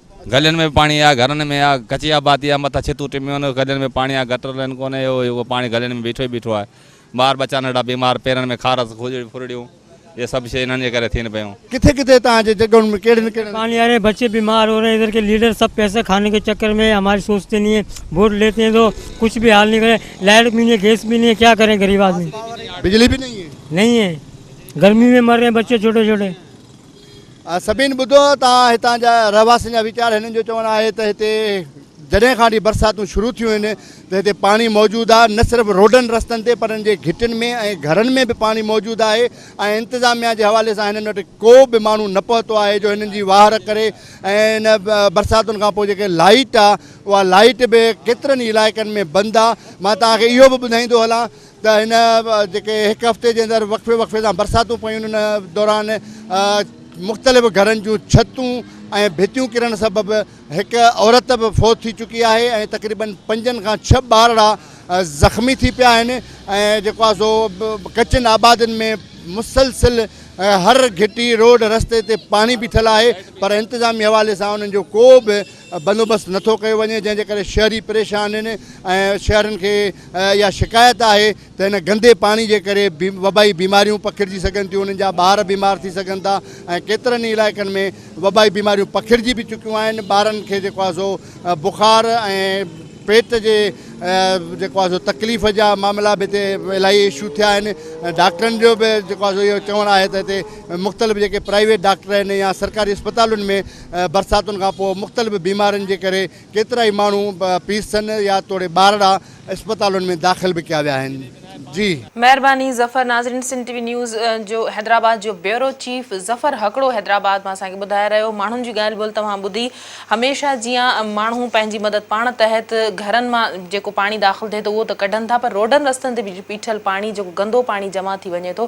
گلين ۾ به پاڻي آ، گهرن ۾ آ، ڪچي آبادي آ، مٿان ڇتون ٽميون آهن، گلين ۾ پاڻي آ، گٽر لائين ڪونهي، اهو جيڪو پاڻي گلين ۾ بيٺو ئي بيٺو آهي. ٻار ٻچا ننڍا بيمار، پيرن ۾ خارس، کجڙي ڦرڙيون، اهي سڀ شيون انهن جي ڪري ٿين پيون. ڪٿي ڪٿي هتان جي جڳهن ۾ ڪهڙين ڪهڙين. پاڻي آ رهي هين، بچي بيمار هو رهي هين، ادھر ڪي ليڊر سڀ پئسي کاني ڪي چڪر ۾ هين، هماري سوچتي نهين هين، ووٽ ليتي هين تو ڪچھ به حال نهين ڪري، لائيٽ به نهين هين، گيس به نهين هين، ڪيا ڪرين غريب آدمي. بجلي به نهين هين. نهين هين، گرمي ۾ مر رهي هين بچي ڇوٽي ڇوٽي. سڀني ٻڌو ته هتان جا رهواسين جا ويچار هنن جو چوڻ آهي ته هتي جڏهن کان وٺي برساتون شروع ٿيون آهن ته هتي پاڻي موجود آهي نه صرف روڊن رستن تي پر ان جي گهٽين ۾ ۽ گهرن ۾ به پاڻي موجود آهي ۽ انتظاميا جي حوالي سان هنن وٽ ڪو به ماڻهو نه پهتو آهي جو هنن جي واهر ڪري ۽ ان برساتن کان پوء جيڪي لائيٽ آهي اها لائيٽ به ڪيترن ئي علائقن ۾ بند آهي مان توهان کي اهو به ٻڌائيندو هلان ته هن جيڪي هڪ هفتي جي اندر وقفي وقفي سان برساتون پيون ان دوران مختلف گهرن جون ڇتون ۽ ڀتيون ڪرڻ سبب هڪ عورت به فوت ٿي چڪي آهي ۽ تقريبن پنجن کان ڇهه ٻارڙا زخمي ٿي پيا آهن ۽ جيڪو آهي سو ڪچن آبادين ۾ مسلسل هر گهٽي روڊ رستي تي پاڻي بيٺل آهي پر انتظامي حوالي سان انهن جو ڪو به بندوبست نٿو ڪيو وڃي جنهن جي ڪري شهري پريشان آهن ۽ شهرين کي اها شڪايت آهي ته هن گندي پاڻي جي ڪري وبائي بيماريون پکڙجي سگهن ٿيون انهن جا ٻار بيمار ٿي سگهن ٿا ۽ ڪيترن ئي علائقن ۾ وبائي بيماريون پکڙجي به چڪيون آهن ٻارن کي جيڪو آهي سو بخار ۽ پيٽ جي جيڪو آهي سو تڪليف جا معاملا به هتي الاهي اشو ٿيا آهن ڊاڪٽرن جو به جيڪو آهي سو اهو چوڻ آهي ته هتي مختلف جيڪي پرائيويٽ ڊاڪٽر آهن يا سرڪاري اسپتالن ۾ برساتن کان پوء مختلف بيمارين جي ڪري ڪيترائي ماڻهو پي سن يا توڙي ٻارڙا اسپتالن ۾ داخل به ڪيا ويا آهن جي. مهرباني ظفر ناظرين سنڌ ٽي وي نيوز جو حيدرآباد جو بيورو چيف ظفر هڪڙو حيدرآباد مان اسان کي ٻڌائي رهيو ماڻهن جي ڳالهه ٻولهه توهان ٻڌي هميشه جيان ماڻهو پنهنجي مدد پاڻ تحت گهرن مان جيڪو پاڻي داخل ٿئي ٿو اهو ته ڪڍن ٿا پر روڊن رستن تي بيٺل پاڻي جيڪو گندو پاڻي جمع ٿي وڃي ٿو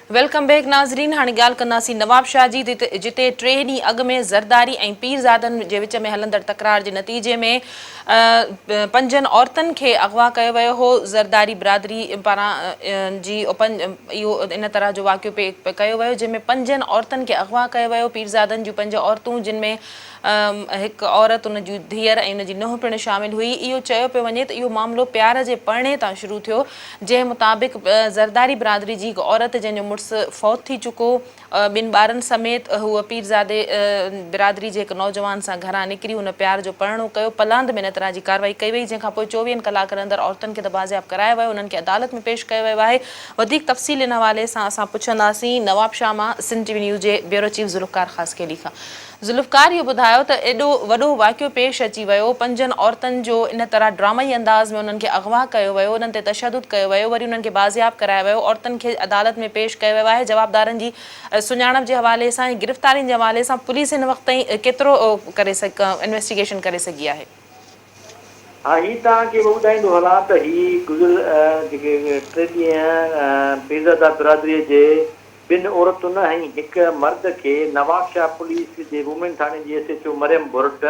ويلڪم بيڪ ناظرين هاڻي ڳالهه ڪنداسين نوابشاهه جي جتي ٽي ڏينهن اڳ ۾ زرداري ۽ پيرزادن جي وچ ۾ هلندڙ تڪرار جي نتيجي ۾ پنجن عورتن کي اغوا ڪيو ويو هو زرداري برادري پاران جي اهو ان طرح جو واقعو ڪيو ويو جنهن ۾ پنجن عورتن کي اغوا ڪيو ويو پيرزادن جون پنج عورتون جن ۾ هڪ عورت، ان جي ڌيئر ۽ ان جي نونهن پڻ شامل هئي. اهو چيو پيو وڃي ته اهو معاملو پيار جي پرڻي تان شروع ٿيو، جنهن مطابق زرداري برادري جي هڪ عورت جنهن جو مڙس فوت ٿي چڪو، ٻن ٻارن سميت هوء پيرزادي برادري جي هڪ نوجوان سان گهران نڪري هن پيار جو پرڻو ڪيو. پلاند ۾ ان طرح جي ڪارروائي ڪئي وئي، جنهن کان پوء چوويهن ڪلاڪن اندر عورتن کي ته بازياب ڪرايو ويو، انهن کي عدالت ۾ پيش ڪيو ويو آهي. وڌيڪ تفصيل ان حوالي سان اسان پڇنداسين نوابشاهه مان سنڌ ٽي وي نيوز جي بيورو چيف ذوالفقار خاصخيلي کان. ذوالفقار اهو ٻڌايو ته ايڏو وڏو واقعو پيش اچي ويو، پنجن عورتن جو ان طرح ڊرامائي انداز ۾ انهن کي اغوا ڪيو ويو، انهن تي تشدد ڪيو ويو، وري انهن کي بازياب ڪرايو ويو، عورتن کي عدالت ۾ پيش ڪيو ويو آهي، جوابدارن جي سڃاڻپ جي حوالي سان ۽ گرفتارين جي حوالي سان پوليس هن وقت تائين ڪيترو ڪري انويسٽيگيشن ڪري سگهي آهي. ها هي توهان کي به ٻڌائيندو هلان ته هي گذريل جيڪي ٽي ڏينهن پيرزاده برادري جي ٻن عورتن ۽ هڪ مرد کي نوابشاهه پوليس جي وومين ٿاڻي جي S H O Maryam Bhurt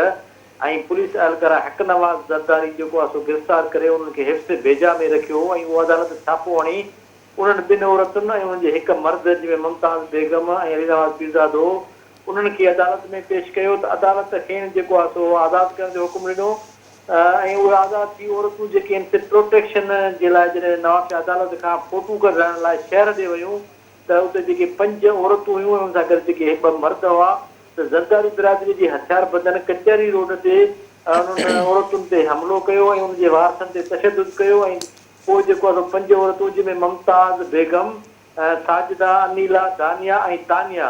۽ police اهلڪاره حق نواز زرداري جيڪو آهي سو گرفتار ڪري انهن کي حفظ بيجا ۾ رکيو هو ۽ اهو عدالت ڇاپو هڻي انهن ٻن عورتن ۽ انهن جي هڪ مرد جنهن ۾ ممتاز بيگم ۽ علي نواز پيرزادو انهن کي عدالت ۾ پيش ڪيو ته عدالت کين جيڪو آهي سو آزاد ڪرڻ جو حڪم ڏنو ۽ اهي آزاد ٿي عورتون جيڪي ان تي پروٽيڪشن جي لاء جڏهن نوابشاهه عدالت کان فوٽو ڪڍرائڻ لاء شهر ڏي ويون ته اتي جيڪي پنج عورتون هيون انهن سان گڏ جيڪي اهي ٻه مرد هئا ته زرداري برادري جي هٿياربندن ڪچهري روڊ تي انهن عورتن تي حملو ڪيو ۽ ان جي وارثن تي تشدد ڪيو ۽ پوء جيڪو آهي سو پنج عورتون جنهن ۾ ممتاز بيگم، ساجده، انيلا، دانيا ۽ تانيا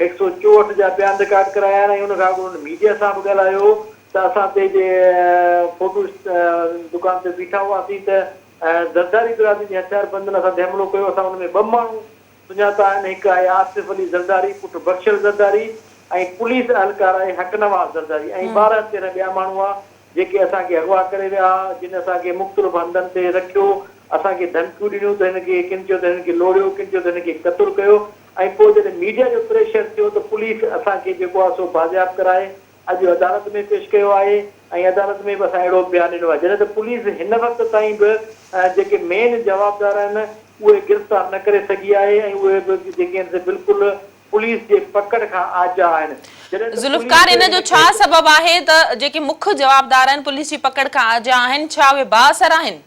هڪ سؤ چوهٺ جا بيان رڪارڊ ڪرايا آهن ۽ ان کان اڳ هن ميڊيا سان به ڳالهايو هو ته اسان تي جي فوٽو دڪان تي بيٺا هئاسين ته زرداري برادري جي هٿياربندن اسان تي حملو ڪيو، اسان ان ۾ ٻه ماڻهو سڃاتا آهن، هڪ آهي آصف علي زرداري پٽ بخشل زرداري ۽ پوليس اهلڪار آهي حق نواز زرداري ۽ ٻارهن تيرهن ٻيا ماڻهو هئا جيڪي اسان کي اغوا ڪري ويا ها جن اسان کي مختلف هنڌن تي رکيو اسان کي ڌمڪيون ڏنيون ته هن کي ڪن چيو ته هن کي لوڙيو ڪن چيو ته هن کي قتل ڪيو ۽ پوء جڏهن ميڊيا جو پريشر ٿيو ته پوليس اسان کي جيڪو آهي سو بازياب ڪرائي اڄ عدالت ۾ پيش ڪيو آهي ۽ عدالت ۾ به اسان اهڙو بيان ڏنو آهي جڏهن ته پوليس هن وقت تائين به جيڪي مين جوابدار آهن اهي گرفتار نه ڪري سگهي آهي ۽ اهي به جيڪي آهن سي بلڪل پوليس جي پڪڙ کان آجا آهن جڏهن ته ذوالفقار ان جو ڇا سبب آهي ته جيڪي مک جوابدار آهن پوليس جي پڪڙ کان آجا آهن ڇا اهي بااثر آهن؟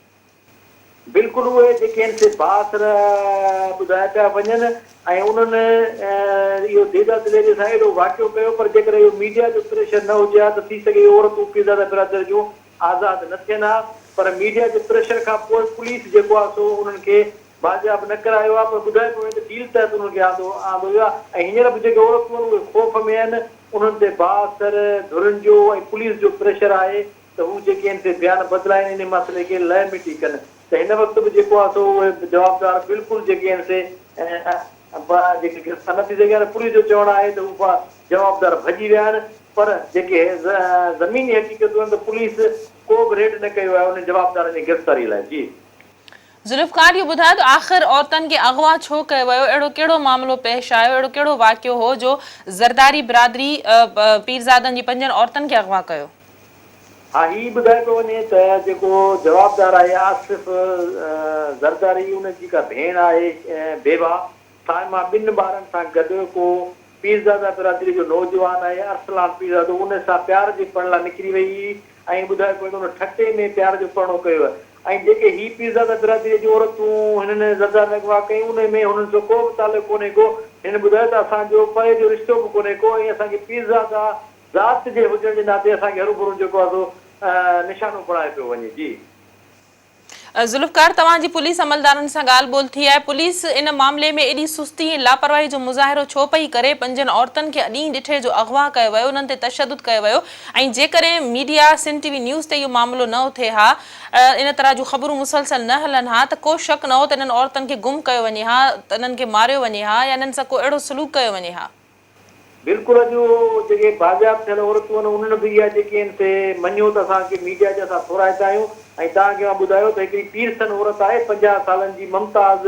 بلڪل اهي جيڪي آهن سي بااثر ٻڌايا پيا وڃن ۽ انهن اهو ديدا دليري سان اهڙو واقعو ڪيو پر جيڪڏهن اهو ميڊيا جو پريشر نه هجي ها ته ٿي سگهي اهي عورتون پيرزاده برادر جون آزاد نه ٿين ها پر ميڊيا جي پريشر کان پوء پوليس جيڪو آهي سو انهن کي بازياب نه ڪرايو آهي پر ٻڌايو پيو وڃي ته ڊيل تحت انهن کي آندو آندو ويو آهي ۽ هينئر به جيڪي عورتون آهن اهي خوف ۾ آهن انهن تي بااثر ڌرين جو ۽ پوليس جو پريشر آهي ته هو جيڪي آهن سي بيان بدلائين انهي مسئلي کي لئه مٽي ڪن ته هن وقت به جيڪو آهي سو اهي جوابدار بلڪل جيڪي آهن سي پ پ جي کي گرفتار نه ٿي سگهيا آهن پورهيي جو چوڻ آهي ته هو پ پ جوابدار ڀڄي ويا آهن پر جيڪي ز زميني حقيقتون آهن ته پوليس ڪو به ريڊ نه ڪيو آهي انهن جوابدارن جي گرفتاري لاء جي ذوالفقار اهو ٻڌايو ته آخر عورتن کي اغوا ڇو ڪيو ويو، اهڙو ڪهڙو معاملو پيش آيو، اهڙو ڪهڙو واقعو هو جو زرداري برادري پيرزادن جي پنجن عورتن کي اغوا ڪيو؟ ها هي ٻڌايو پيو وڃي ته جيڪو جوابدار آهي آصف زرداري ان جي جيڪا ڀيڻ آهي بيبا صائمه ٻن ٻارن سان گڏ ڪو پيرزاده برادري جو نوجوان آهي ارسلان پيرزادو ان سان پيار جي پڙ لا نڪري وئي هئي ۽ ٻڌايو پوي ته ان ٺٽي ۾ پيار جو پرڻو ڪيو هئ ۽ جيڪي هي پيرزاده برادري جون عورتون هنن زرداري ۾ اغوا ڪيون انهي ۾ هنن سو ڪو به تعلق ڪونهي ڪو هنن ٻڌايو ته اسان جو پري جو رشتو به ڪونهي ڪو ۽ اسان کي پيرزاده ذات جي هجڻ جي ناتي اسان کي هرون ڀرون جيڪو آهي سو نشانو بڻايو پيو وڃي جي ذوالفقار توهان جي پوليس عملدارن سان ڳالهه ٻولهه ٿي آهي پوليس ان معاملي ۾ ايڏي سستي ۽ لاپرواهي جو مظاهرو ڇو پئي ڪري پنجن عورتن کي اڏينهن ڏٺي جو اغوا ڪيو ويو انهن تي تشدد ڪيو ويو ۽ جيڪڏهن media Sindh T V news تي اهو معاملو نه اٿي ها ان طرح جون خبرون مسلسل نه هلن ها ته ڪو شڪ نه هو ته انهن عورتن کي گم ڪيو وڃي ها انهن کي ماريو وڃي ها يا انهن سان ڪو اهڙو سلوڪ ڪيو وڃي ها. بلڪل اڄ اهو جيڪي بازياب ٿيل عورتون آهن انهن به اها جيڪي آهن سي مڃيو ته اسان کي ميڊيا جا اسان ٿورائتا آهيون ۽ توهان کي مان ٻڌايو ته هڪڙي پيرسن عورت آهي پنجاهه سالن جي ممتاز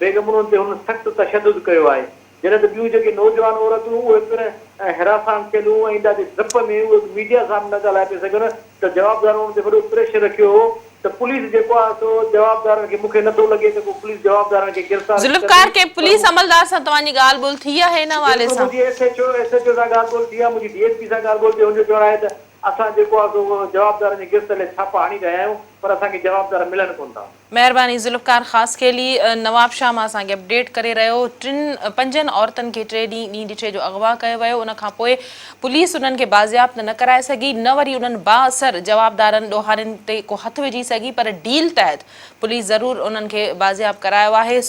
بيگم انهن تي هنن سخت تشدد ڪيو آهي جڏهن ته ٻيون جيڪي نوجوان عورتون اهي پڻ هراسان ٿيل هيون ۽ ادا جي ڊپ ۾ اهي به ميڊيا سامهون نه ڳالهائي پئي سگهن ته جوابدار ان تي وڏو پريشر رکيو هو ته پوليس جيڪو آهي سو جوابدارن کي مونکي نٿو لڳي ته ڪو پوليس جوابدارن کي گرفتار به ذوالفقار ڪندي کي پر پوليس مون عملدار سان توهان جي ڳالهه ٻولهه ٿي آهي ان حوالي بلڪل سان؟ منهنجي S H O S H O سان ڳالهه ٻولهه ٿي آهي منهنجي ڊي ايس پي سان ڳالهه ٻولهه ٿي هن جو چوڻ آهي ته اسان جيڪو آهي سو جوابدارن جي گرفت لئي ڇاپا هڻي رهيا آهيون پر اسان کي جوابدار ملن ڪونه ٿا. مهرباني ذوالفقار خاصخيلي نوابشاهه مان اسان کي اپڊيٽ ڪري رهيو ٽن پنجن عورتن کي ٽي ڏينهن ڏينهن ڏٺي جو اغوا ڪيو ويو ان کان پوء پوليس انهن کي بازيابت نه ڪرائي سگهي نه وري انهن بااثر جوابدارن ڏوهارين تي ڪو هٿ وجهي سگهي پر ڊيل تحت پوليس ضرور انهن کي بازياب ڪرايو آهي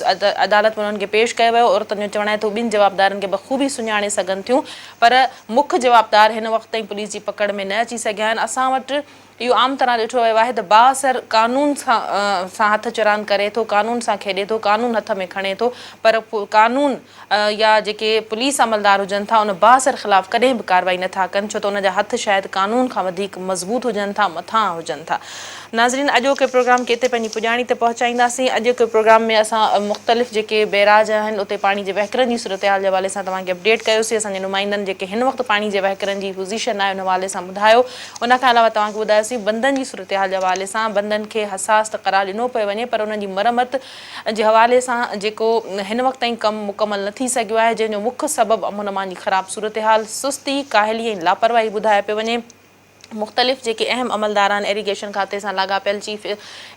عدالت ۾ انهن کي پيش ڪيو ويو عورتن جو چوڻ آهي ته هو ٻن جوابدارن کي بخوبي سڃاڻي سگهن ٿيون پر مک جوابدار هن وقت تائين پوليس جي پڪڙ ۾ نه اچي سگهيا آهن اسان وٽ اهو عام طرح ڏٺو ويو آهي ته بااثر قانون سان هٿ چراند ڪري ٿو، قانون سان کيڏي ٿو، قانون هٿ ۾ کڻي ٿو پر قانون يا جيڪي پوليس عملدار هجن ٿا ان بااثر خلاف ڪڏهن به ڪارروائي نه ٿا ڪن ڇو ته ان جا هٿ شايد قانون کان وڌيڪ مضبوط هجن ٿا مٿانهان هجن ٿا. ناظرين اڄوڪي پروگرام کي اتي پنهنجي پڄاڻي تي پهچائينداسين. اڄوڪي پروگرام ۾ اسان مختلف جيڪي بئراج آهن اتي پاڻي جي وهڪرن جي صورتحال جي حوالي سان توهان کي اپڊيٽ ڪيوسي اسان جي نمائندن جيڪي هن وقت پاڻي جي وهڪرن جي پوزيشن آهي ان حوالي سان ٻڌايو ان کان علاوه توهان کي ٻڌايوسين بندن جي صورتحال جي حوالي سان بندن کي حساس ته قرار ڏنو پيو وڃي پر انهن جي مرمت جي حوالي سان جيڪو هن وقت تائين ڪم مڪمل نه ٿي سگهيو آهي جنهن جو مک سبب امن امان جي خراب صورتحال سستي ڪاهلي ۽ لاپرواهي ٻڌايو پيو وڃي مختلف جيڪي اهم عملداران ايريگيشن کاتي سان لاڳاپيل چيف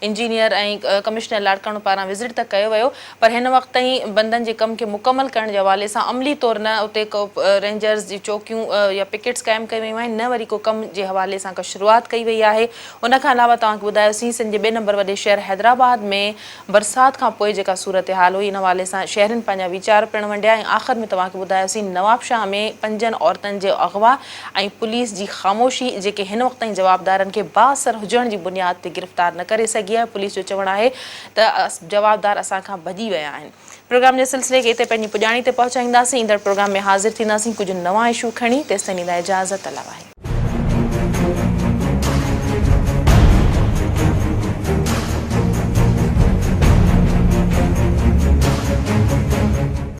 انجنيئر ۽ ڪمشنر لاڙڪاڻو پاران وزٽ ته ڪيو ويو پر هن وقت تائين بندن جي ڪم کي مڪمل ڪرڻ جي حوالي سان عملي طور نه اتي ڪو رينجرز جي چوڪيون يا پڪيٽس قائم ڪيون ويون آهن نه وري ڪو ڪم جي حوالي سان ڪا شروعات ڪئي وئي آهي ان کان علاوه توهان کي ٻڌايوسين سنڌ جي ٻئي نمبر وڏي شهر حيدرآباد ۾ برسات کان پوء جيڪا صورتحال هئي ان حوالي سان شهرين پنهنجا ويچار پڻ ونڊيا ۽ آخر ۾ توهان کي ٻڌايوسين نوابشاهه ۾ پنجن عورتن جو اغوا ۽ پوليس جي خاموشي جيڪي هن وقت تائين جوابدارن کي بااثر هجڻ جي بنياد تي گرفتار نه ڪري سگهي آهي پوليس جو چوڻ آهي ته جوابدار اسان کان ڀڄي ويا آهن. پروگرام جي سلسلي کي اتي پنهنجي پڄاڻي تي پهچائينداسين. ايندڙ پروگرام ۾ حاضر ٿينداسين ڪجهه نوان اشو کڻي. تيستائين لاء اجازت الله واحد.